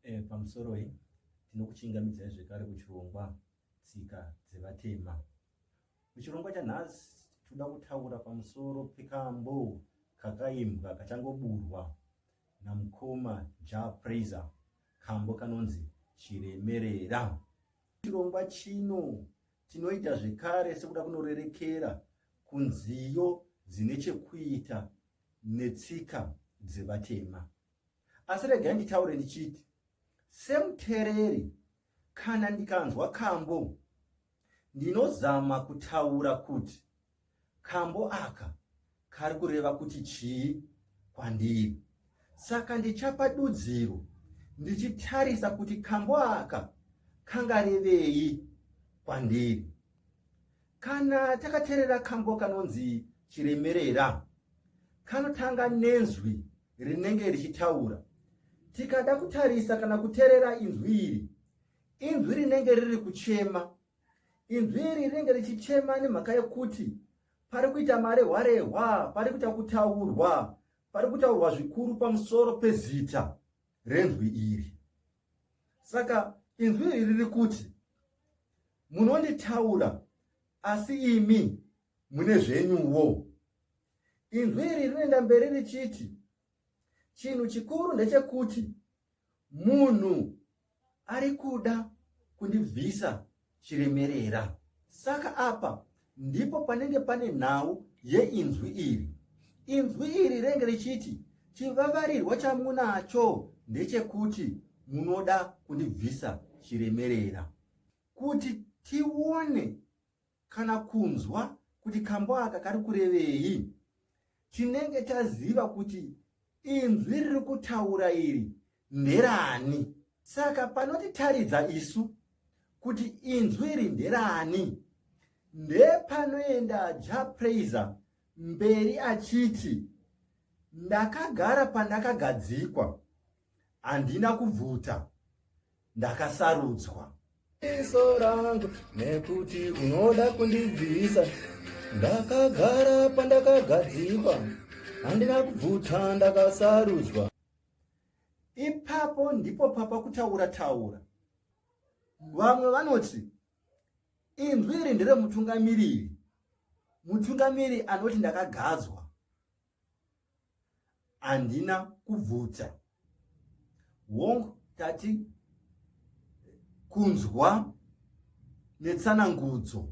E, pamusoroi tinokuchingamidzai zvekare kuchirongwa tsika dzevatema. Muchirongwa chanhasi tinoda kutaura pamusoro pekambo kakaimbwa kachangoburwa namukoma Ja Praiser kambo kanonzi Chiremerera. Chirongwa chino tinoita zvekare sekuda kunorerekera kunziyo dzine chekuita netsika dzevatema. asi regai nditaure ndichiti semutereri kana ndikanzwa kambo ndinozama kutaura kuti kambo aka kari kureva kuti chii kwandiri saka ndichapa dudziro ndichitarisa kuti kambo aka kangarevei kwandiri kana takaterera kambo kanonzi chiremerera kanotanga nenzwi rinenge richitaura. Tikada kutarisa kana kuterera inzwi iri, inzwi rinenge riri kuchema. Inzwi iri rinenge richichema nemhaka yekuti pari kuita marehwarehwa, pari kuita kutaurwa, pari kutaurwa zvikuru pamusoro pezita renzwi iri. Saka inzwi iri riri kuti munonditaura asi imi mune zvenyuwo. Inzwi iri rinoenda mberi richiti, Chinhu chikuru ndechekuti munhu ari kuda kundibvisa chiremerera. Saka apa ndipo panenge pane nhau yeinzwi iri. Inzwi iri renge richiti chivavarirwa chamunacho ndechekuti munoda kundibvisa chiremerera. Kuti tione kana kunzwa kuti kambo aka kari kurevei tinenge taziva kuti inzwi riri kutaura iri nderani saka panotitaridza isu kuti inzwi iri nderani ndepanoenda ja praiser mberi achiti ndakagara pandakagadzikwa handina kubvuta ndakasarudzwa iso rangu nekuti unoda kundibvisa ndakagara pandakagadzikwa handina kubvuta ndakasarudzwa ipapo ndipo papa kutaura taura vamwe vanoti inzwi iri nderemutungamiriri mutungamiri anoti ndakagadzwa handina kubvudza wong tati kunzwa netsanangudzo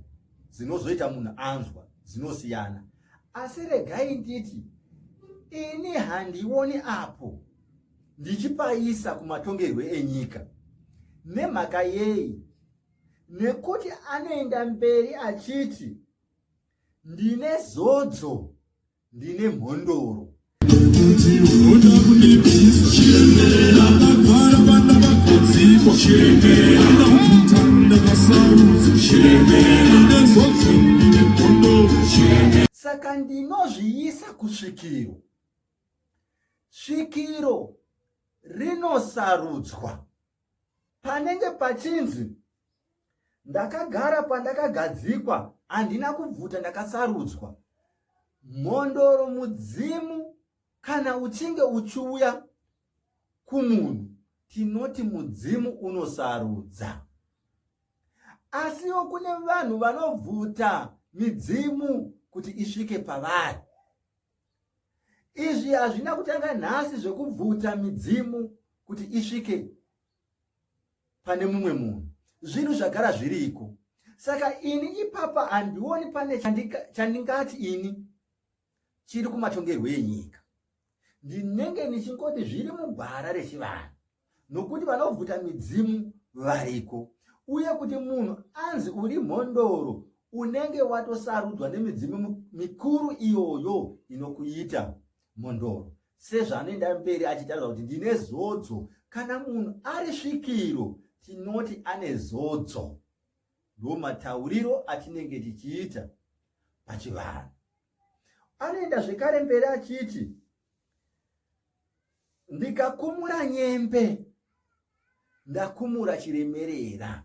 dzinozoita munhu anzwa dzinosiyana asi regai nditi ini handioni apo ndichipaisa kumatongerwe enyika nemhaka yei nekuti anoenda mberi achiti ndine zodzo ndine mhondoro saka ndinozviisa kusvikiro svikiro rinosarudzwa panenge pachinzi ndakagara pandakagadzikwa handina kubvuta ndakasarudzwa mhondoro mudzimu kana uchinge uchiuya kumunhu tinoti mudzimu unosarudza asiwo kune vanhu vanobvuta midzimu kuti isvike pavari izvi hazvina kutanga nhasi zvekubvuta midzimu kuti isvike pane mumwe munhu zvinhu zvagara zviriko saka ini ipapa handioni pane chandingati ini chiri kumatongerwo enyika ndinenge ndichingoti zviri mugwara rechivanhu nokuti vanobvuta midzimu variko uye kuti munhu anzi uri mhondoro unenge watosarudzwa nemidzimu mikuru iyoyo inokuita Mhondoro sezvanoenda mberi achitaura kuti ndine zodzo kana munhu ari svikiro tinoti ane zodzo ndo matauriro atinenge tichiita pachivanhu anoenda zvekare mberi achiti ndikakumura nyembe ndakumura chiremerera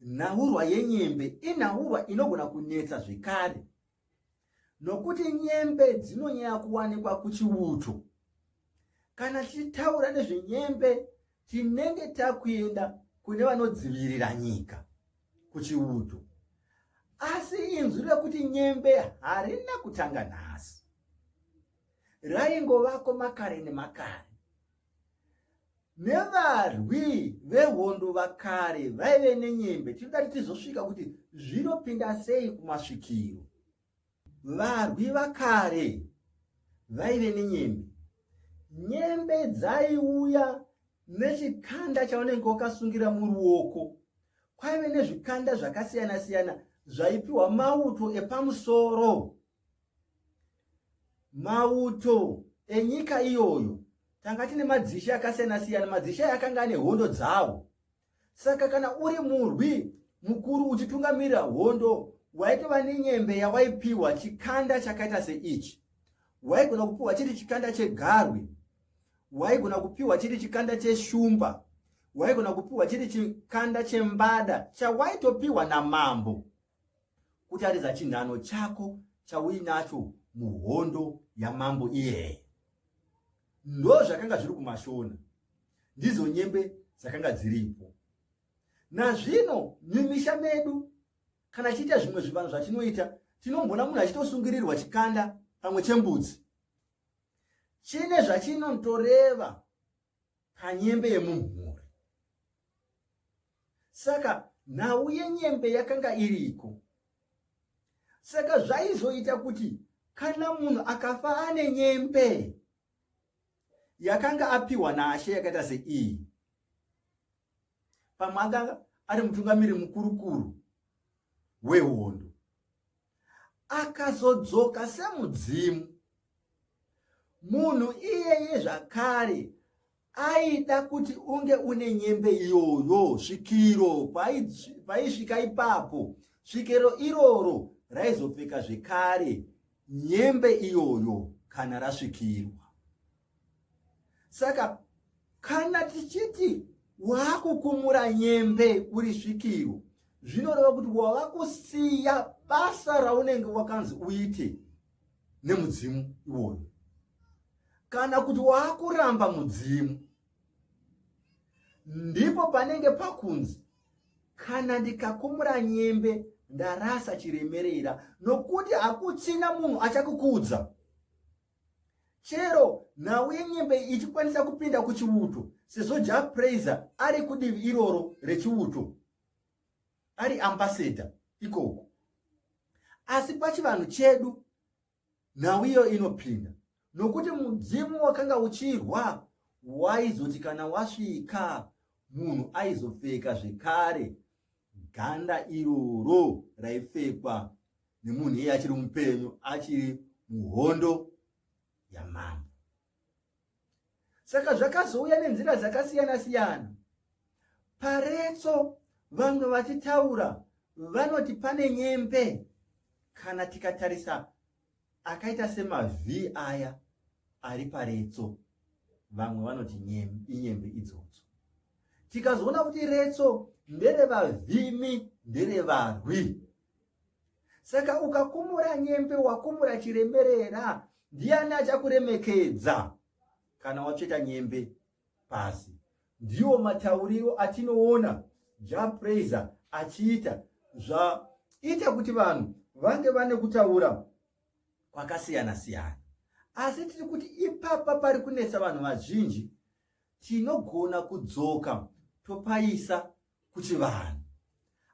Nhaurwa yenyembe inhaurwa inogona kunetsa zvekare nokuti nyembe dzinonyanya kuwanikwa kuchiuto. Kana tichitaura nezvenyembe tinenge takuenda kune vanodzivirira nyika kuchiuto. Asi inzwi rekuti nyembe harina kutanga nhasi. Raingovako makare nemakare. nevarwi vehondo vakare vaive nenyembe tinoda kuti tizosvika kuti zvinopinda sei kumasvikiro varwi vakare vaive nenyembe nyembe dzaiuya nechikanda chaunenge wakasungira muruoko kwaive nezvikanda zvakasiyana siyana zvaipiwa mauto epamusoro Mauto enyika iyoyo tanga tine madzishe akasiyana siyana. Madzishe aya akanga ane hondo dzawo. Saka kana uri murwi mukuru uchitungamirira hondo, waitova nenyembe yawaipiwa chikanda chakaita seichi. Waigona kupiwa chiri chikanda chegarwe, waigona kupiwa chiri chikanda cheshumba, waigona kupiwa chiri chikanda chembada chawaitopiwa namambo. kutaridza chinhano chako chauinacho muhondo yamambo iyeye ndo zvakanga zviri kumashona ndizo nyembe dzakanga dziripo nazvino mumisha medu kana tichiita zvimwe zvivanhu zvatinoita tinombona munhu achitosungirirwa chikanda pamwe chembudzi chine zvachinotoreva panyembe yemumhuri saka nhau yenyembe yakanga iriko saka zvaizoita kuti kana munhu akafa ane nyembe yakanga apiwa naashe yakaita seiyi pamwe anga ari mutungamiri mukurukuru wehondo akazodzoka semudzimu munhu iyeye zvakare aida kuti unge une nyembe iyoyo svikiro paisvika ipapo svikiro iroro raizopfeka zvekare nyembe iyoyo kana rasvikirwa saka kana tichiti waakukumura nyembe uri svikiro zvinoreva kuti wava kusiya basa raunenge wakanzi uite nemudzimu iwoyo kana kuti waakuramba mudzimu ndipo panenge pakunzi kana ndikakumura nyembe ndarasa chiremerera nokuti hakuchina munhu achakukudza chero nhau yenyembe ichikwanisa kupinda kuchiuto sezvo jack praiser ari kudivi iroro rechiuto ari ambasador ikoko asi pachivanhu chedu nhau iyo inopinda nokuti mudzimu wakanga uchirwa waizoti kana wasvika munhu aizopfeka zvekare ganda iroro raipfekwa nemunhu iye achiri mupenyu achiri muhondo yamambo saka zvakazouya nenzira dzakasiyana siyana paretso vamwe vachitaura vanoti pane nyembe kana tikatarisa akaita semavhi aya ari paretso vamwe vanoti inyembe idzodzo tikazoona kuti retso nderevavhimi nderevarwi saka ukakumura nyembe wakumura chiremerera ndiani achakuremekedza kana watsveta nyembe pasi ndiwo matauriro atinoona japraiser achiita zvaita kuti vanhu vange vane kutaura kwakasiyana siyana asi tiri kuti ipapa pari kunetsa vanhu vazhinji tinogona kudzoka topaisa kuchivanhu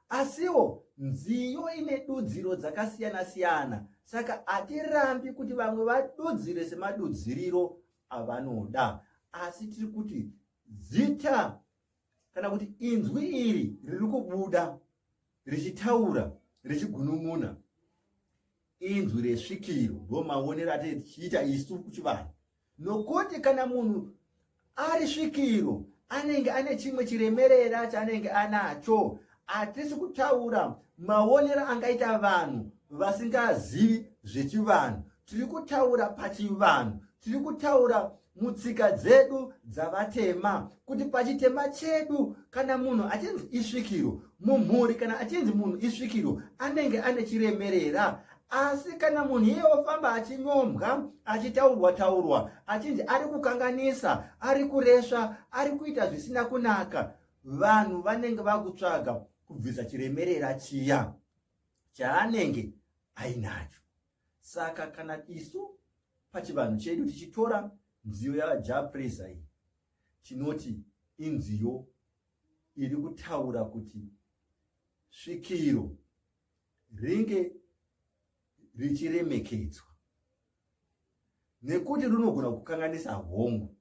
asiwo nziyo ine dudziro dzakasiyana siyana saka hatirambi kuti vamwe vadudzire semadudziriro avanoda asi tiri kuti zita kana kuti inzwi iri riri kubuda richitaura richigunun'una inzwi resvikiro ndomaonero ati tichiita isu kuchivanhu nokuti kana munhu ari svikiro anenge ane chimwe chiremerera chaanenge anacho hatisi kutaura maonero angaita vanhu vasingazivi zvechivanhu tiri kutaura pachivanhu tiri kutaura mutsika dzedu dzavatema kuti pachitema chedu kana munhu achinzi isvikiro mumhuri kana achinzi munhu isvikiro anenge ane chiremerera asi kana munhu iye ofamba achinyombwa achitaurwa taurwa achinzi ari kukanganisa ari kuresva ari kuita zvisina kunaka vanhu vanenge vakutsvaga kubvisa chiremerera chiya chaanenge ainacho saka kana isu pachivanhu chedu tichitora nziyo yajapresa iyi tinoti inziyo iri kutaura kuti svikiro ringe richiremekedzwa nekuti runogona kukanganisa hongu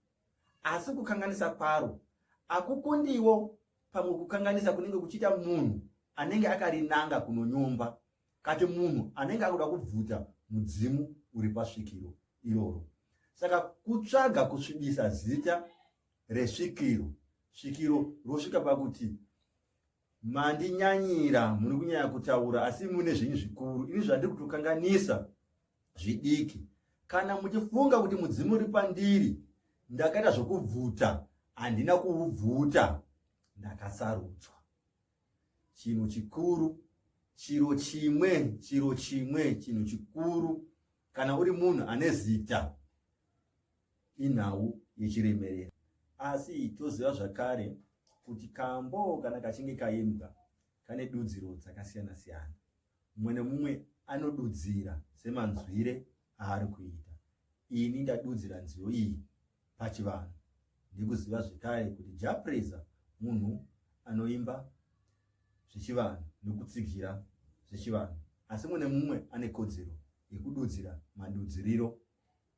asi kukanganisa kwaro akukundiwo pamwe kukanganisa kunenge kuchiita munhu anenge akarinanga kunonyomba kati munhu anenge akuda kubvuta mudzimu uri pasvikiro iroro saka kutsvaga kusvibisa zita resvikiro svikiro rosvika pakuti Mandinyanyira, muri kunyanya kutaura asi mune zvinhu zvikuru. Ini zvandiri kutokanganisa zvidiki. Kana muchifunga kuti mudzimu uri pandiri, ndakaita zvokubvuta, handina kuubvuta, ndakasarudzwa. Chinhu chikuru, chiro chimwe, chiro chimwe, chinhu chikuru. Kana uri munhu ane zita, inhau yechiremerera. Asi toziva zvakare kuti kambo kana kachinge kaimbwa kane dudziro dzakasiyana siyana. Mumwe nemumwe anodudzira semanzwire aari kuita. Ini ndadudzira nziyo iyi pachivanhu nekuziva zvekare kuti Japreza munhu anoimba zvechivanhu nekutsigira zvechivanhu asi mune mumwe ane kodzero yekududzira madudziriro